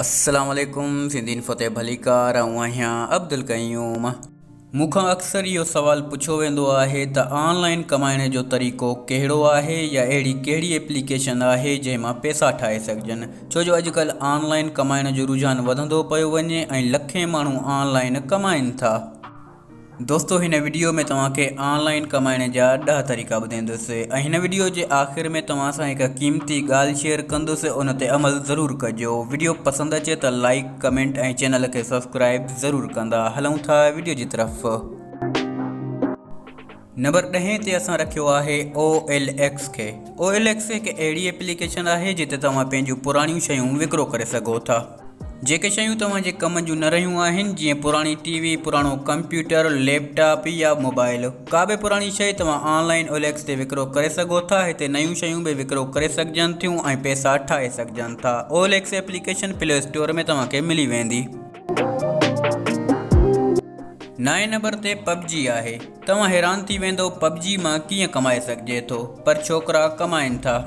السلام عليڪم سنڌي انفو تي ڀليڪار آئون آهيان عبدالقيوم مون کان اڪثر اهو سوال پڇيو ويندو آهي ته آن لائن ڪمائڻ جو طريقو ڪهڙو آهي يا اهڙي ڪهڙي اپليڪيشن آهي جنهن مان پيسا ٺاهي سگهجن ڇو جو اڄڪلهه آن لائن ڪمائڻ جو رجحان وڌندو پيو وڃي ۽ لکين ماڻهو آن لائن ڪمائن ٿا دوستو هن وڊيو ۾ توهان کي آن لائين ڪمائڻ جا ڏهه طريقا ٻڌيندس ۽ هن وڊيو جي آخر ۾ توهان سان هڪ قيمتي ڳالهه شيئر ڪندس ان تي عمل ضرور ڪجو وڊيو پسند اچي ته لائيڪ ڪمينٽ ۽ چينل کي سبسڪرائيب ضرور ڪندا هلون ٿا وڊيو جي طرف. نمبر ڏهين تي اسان رکيو آهي او ايل ايڪس کي. او ايل ايڪس هڪ اهڙي ايپليڪيشن آهي جتي توهان پنهنجون پراڻيون شيون وڪرو ڪري سگهو ٿا. جيڪي شيون توهان جي ڪم جون نه رهيون آهن جيئن پراڻي ٽي وي، پراڻو ڪمپيوٽر، ليپ ٽاپ يا موبائل. ڪا به پراڻي شيء توهان online O L X تي وڪرو ڪري سگهو ٿا. هتي نيون شيون به وڪرو ڪري سگهجن ٿيون ۽ پئسا ٺاهي سگهجن ٿا. O L X application Play Store ۾ توهان کي ملي ويندي. نائين نمبر تي پبجي آهي توهان حيران ٿي ويندو پبجي مان ڪيئن ڪمائي سگهجي ٿو پر ڇوڪرا ڪمائين ٿا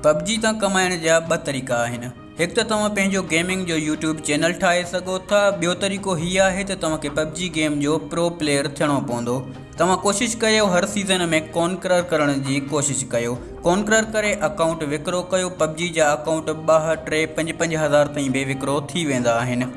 پبجي تان ڪمائڻ جا ٻه طريقا آهن هڪ ته توهان پنهنجو گيمنگ جو يوٽيوب چينل ٺاهي سگهو ٿا ٻيو طريقو هي آهي ته توهان کي پبجي گيم جو پرو پليئر ٿيڻو پوندو توهان ڪوشش ڪيو هر سيزن ۾ ڪونڪرر ڪرڻ جي ڪوشش ڪيو ڪونڪرر ڪري اڪائونٽ وڪرو ڪيو پبجي جا اڪائونٽ ٻه ٽي پنج پنج هزار تائين به وڪرو ٿي ويندا آهن.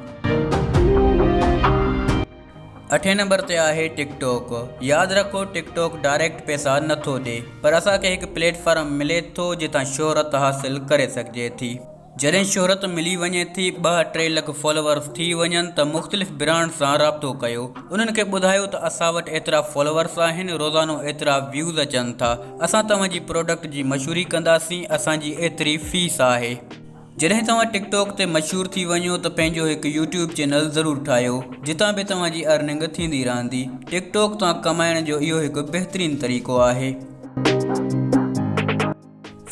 اٺين نمبر تي آهي ٽڪ ٽوڪ ياد رکو ٽڪ ٽوڪ ڊائريڪٽ پئسا نٿو ڏي پر اسان کي هڪ پليٽ فارم ملي ٿو جتان شهرت حاصل ڪري سگهجي ٿي. جڏهن شهرت ملي وڃي ٿي ٻه ٽي لک فالوورز ٿي وڃن ته مختلف برانڊ سان رابطو ڪيو انهن کي ٻڌايو ته اسان وٽ ايترا فالوورز آهن روزانو ايترا ويوز اچن ٿا اسان توهان جي پروڊڪٽ جي مشهوري ڪنداسين اسان جي ايتري فيس آهي جڏهن توهان ٽڪ ٽاڪ تي مشهور ٿي وڃو ته پنهنجو هڪ يوٽيوب چينل ضرور ٺاهيو جتان به توهان جي ارننگ ٿيندي رهندي ٽڪ ٽاڪ تان ڪمائڻ جو اهو هڪ بهترين طريقو آهي.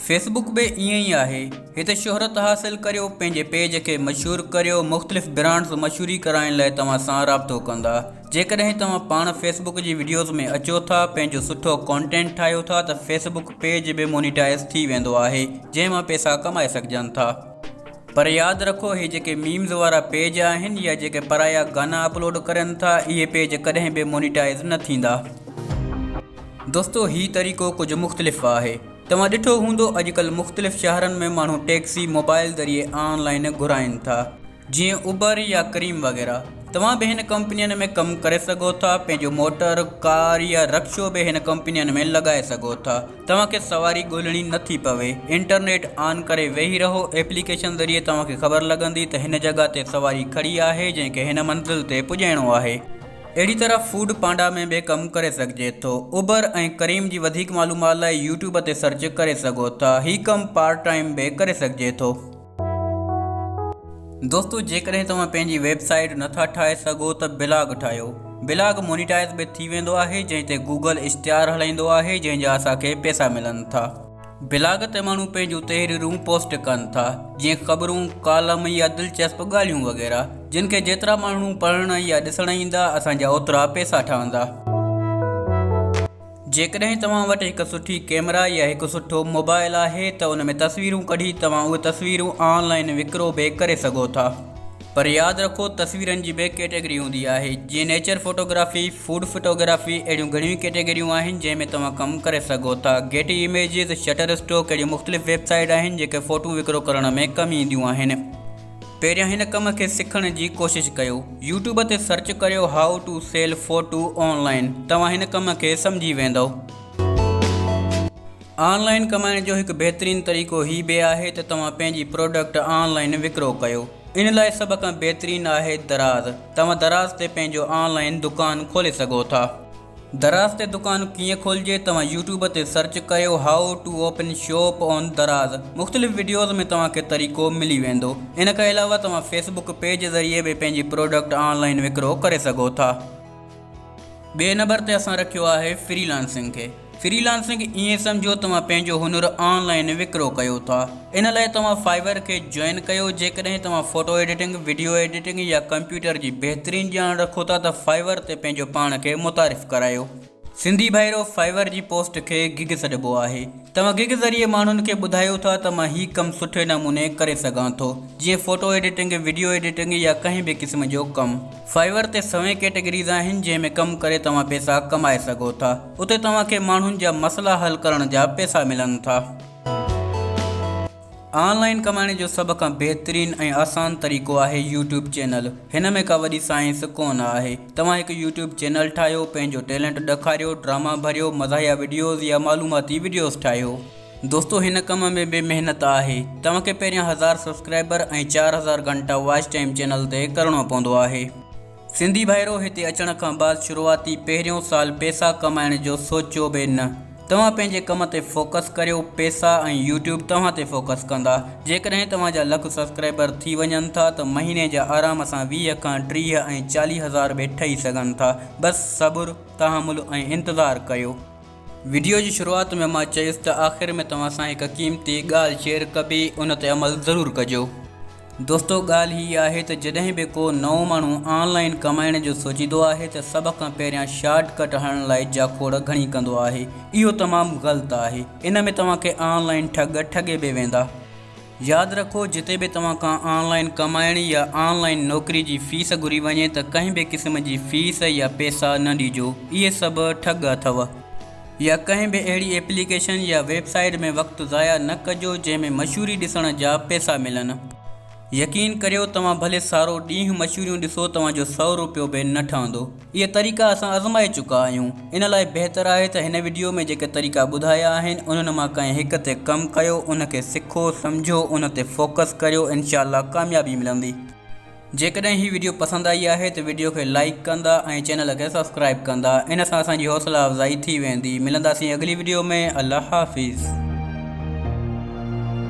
فيس بڪ به ائين ئي آهي هتي شهرت حاصل ڪريو پنهنجي پيج کي مشهور ڪريو مختلف برانڊز مشهوري ڪرائڻ لاء توهان سان رابطو ڪندا جيڪڏهن توهان پاڻ فيس بڪ جي وڊيوز ۾ اچو ٿا پنهنجو سٺو ڪانٽينٽ ٺاهيو ٿا ته فيس بڪ پيج به مونيٽائز ٿي ويندو آهي جنهن مان پيسا ڪمائي سگهجن ٿا پر ياد رکو هي جيڪي ميمز وارا پيج آهن يا جيڪي پرايا گانا اپلوڊ ڪرين ٿا اهي پيج ڪڏهن به مونيٽائز نه ٿيندا. دوستو هي طريقو ڪجهه مختلف آهي. توهان ڏٺو هوندو اڄڪلهه مختلف شهرن ۾ ماڻهو ٽيڪسي موبائل ذريعي آن لائين گهرائين ٿا. جيئن اوبر يا ڪريم وغيره. توهان به هن ڪمپنين ۾ ڪم ڪري سگهو ٿا. پنهنجو موٽر، ڪار يا رڪشو به هن ڪمپنين ۾ لڳائي سگهو ٿا. توهان کي سواري ڳولهڻي نه ٿي پوي. انٽرنيٽ آن ڪري ويهي رهو. ايپليڪيشن ذريعي توهان کي خبر لڳندي ته هن جڳهه تي سواري کڙي آهي جنهن کي هن منزل تي پڄائڻو آهي. اهڙي طرح فوڊ پانڊا ۾ به ڪم ڪري سگهجي ٿو. اوبر ۽ ڪريم جي وڌيڪ معلومات لاء يوٽيوب تي سرچ ڪري سگهو ٿا. هي ڪم پارٽ ٽائيم به ڪري سگهجي ٿو. دوستو جيڪڏهن توهان پنهنجي ويب سائيٽ نٿا ٺاهي سگهو ته بلاگ ٺاهيو. بلاگ مونيٽائيز به ٿي ويندو آهي جنهن تي گوگل اشتهار هلائيندو آهي جنهن جا اسان کي پيسا ملن ٿا. بلاگ تي ماڻهو پنهنجون تحريرون پوسٽ ڪن ٿا، جيئن خبرون، ڪالم يا دلچسپ ڳالهيون وغيره، جن کي جيترا ماڻهو پڙهڻ يا ڏسڻ ايندا، اسان جا اوترا پئسا ٺهندا. جيڪڏهن توهان وٽ هڪ سٺي ڪئميرا يا هڪ سٺو موبائل آهي ته ان ۾ تصويرون ڪڍي توهان اهي تصويرون آن لائين وڪرو به ڪري سگهو ٿا. پر ياد رکو تصويرن جي به ڪيٽيگري هوندي آهي جيئن نيچر فوٽوگرافي، فوڊ فوٽوگرافي اهڙيون گهڻيون ئي ڪيٽيگريون آهن جنهن ۾ توهان ڪم ڪري سگهو ٿا گيٽي اميجز، شٽر اسٽوڪ اهڙيون مختلف ويب سائيٽ آهن جيڪي فوٽون وڪرو ڪرڻ ۾ ڪم اينديون آهن. پهريان هن ڪم کي سکڻ جي ڪوشش ڪيو يوٽيوب تي سرچ ڪريو how to sell photo online توهان هن ڪم کي سمجهي ويندئو. آن لائن ڪمائڻ جو هڪ بهترين طريقو هي به آهي ته توهان پنهنجي پروڊڪٽ آن لائن وڪرو ڪيو. ان لاء سڀ کان بهترين آهي دراز. توهان دراز تي پنهنجو آن لائن دڪان کولي سگهو ٿا. دراز تي دڪان ڪيئن کولجي توهان يوٽيوب تي سرچ ڪيو how to open shop on دراز مختلف وڊيوز ۾ توهان کي طريقو ملي ويندو. ان کان علاوه توهان فيسبوڪ پيج ذريعي به پنهنجي پروڊڪٽ آن لائن وڪرو ڪري سگهو ٿا. ٻئي نمبر تي اسان رکيو آهي فري لانسنگ کي. فري لانسنگ ائين سمجهو توهان پنهنجو هنر آن لائين وڪرو ڪيو ٿا. ان لاء توهان فائيور کي جوائن ڪيو. جيڪڏهن توهان فوٽو ايڊيٽنگ، وڊيو ايڊيٽنگ يا ڪمپيوٽر جي بهترين ڄاڻ رکو ٿا ته فائيور تي پنهنجو پاڻ کي متعارف ڪرايو. سنڌي ڀائرو فائيور جي پوسٽ کي گگ سڏبو آهي. توهان گگ ذريعي ماڻهن کي ٻڌايو ٿا ته مان هي ڪم سٺي نموني ڪري سگهان ٿو. جيئن فوٽو ايڊيٽنگ، وڊيو ايڊيٽنگ يا ڪنهن به قسم جو ڪم. Fiverr تي سوين ڪيٽيگريز آهن جنهن ۾ ڪم ڪري توهان پيسا ڪمائي سگهو ٿا. اتي توهان کي ماڻهن جا مسئلا حل ڪرڻ جا پيسا ملن ٿا. آن لائين ڪمائڻ جو سڀ کان بهترين ۽ آسان طريقو آهي يوٽيوب چينل. هن ۾ ڪا وڏي سائنس ڪونه آهي. توهان هڪ يوٽيوب چينل ٺاهيو، پنهنجو ٽيلنٽ ڏکاريو، ڊراما ڀريو، مزاحيه وڊيوز يا معلوماتي وڊيوز ٺاهيو. دوستو هن ڪم ۾ به محنت آهي توهان کي پهريان هزار سبسڪرائبر ۽ چار هزار گهنٽا واچ ٽائيم چينل تي ڪرڻو پوندو آهي سنڌي ڀائرو هتي اچڻ کان بعد شروعاتي پهريون سال پيسا ڪمائڻ جو سوچيو به نه توهان پنهنجي ڪم تي فوڪس ڪريو پيسا ۽ يوٽيوب توهان تي فوڪس ڪندا جيڪڏهن توهان جا لک سبسڪرائبر ٿي وڃن ٿا ته مهيني جا آرام سان ويهه کان ٽيهه ۽ چاليهه هزار به ٺهي سگهن ٿا بس صبر تحمل ۽ انتظار ڪيو. وڊيو جي شروعات ۾ مان چيس ته آخر ۾ توهان سان هڪ قيمتي ڳالهه شيئر ڪبي ان تي عمل ضرور ڪجو دوستو ڳالهه هي آهي ته جڏهن به ڪو نئون ماڻهو آن لائين ڪمائڻ جو سوچيندو آهي ته سڀ کان پهريان شارٽ ڪٽ هڻڻ لاء جاکوڙ گهڻي ڪندو آهي اهو تمام غلط آهي ان ۾ توهان کي آن لائين ٺڳ ٺڳي به ويندا. ياد رکو جتي به توهان کان آن لائين ڪمائڻ يا آن لائين نوڪري جي فيس گهري وڃي ته ڪنهن به قسم جي فيس يا پيسا نه ڏيجو اهي سڀ ٺڳ اٿو يا ڪنهن به اهڙي ايپليڪيشن يا ويب سائيٽ ۾ وقت ضايع نه ڪجو جنهن ۾ مشهوري ڏسڻ جا پيسا ملن يقين ڪريو توهان ڀلي سارو ڏينهن مشهوريون ڏسو توهان جو سؤ روپيو به نه ٺهندو. اهي طريقا اسان ازمائي چڪا آهيون. ان لاء بهتر آهي ته هن وڊيو ۾ جيڪي طريقا ٻڌايا آهن انهن مان ڪنهن هڪ تي ڪم ڪيو ان کي سکو سمجهو ان تي فوڪس ڪريو انشاء الله ڪاميابي ملندي. جيڪڏهن هي وڊيو پسند آئي آهي ته وڊيو کي لائيڪ ڪندا ۽ چينل کي سبسڪرائيب ڪندا ان سان اسان جي حوصلا افزائي ٿي ويندي. ملنداسين اڳلي وڊيو ۾ الله حافظ.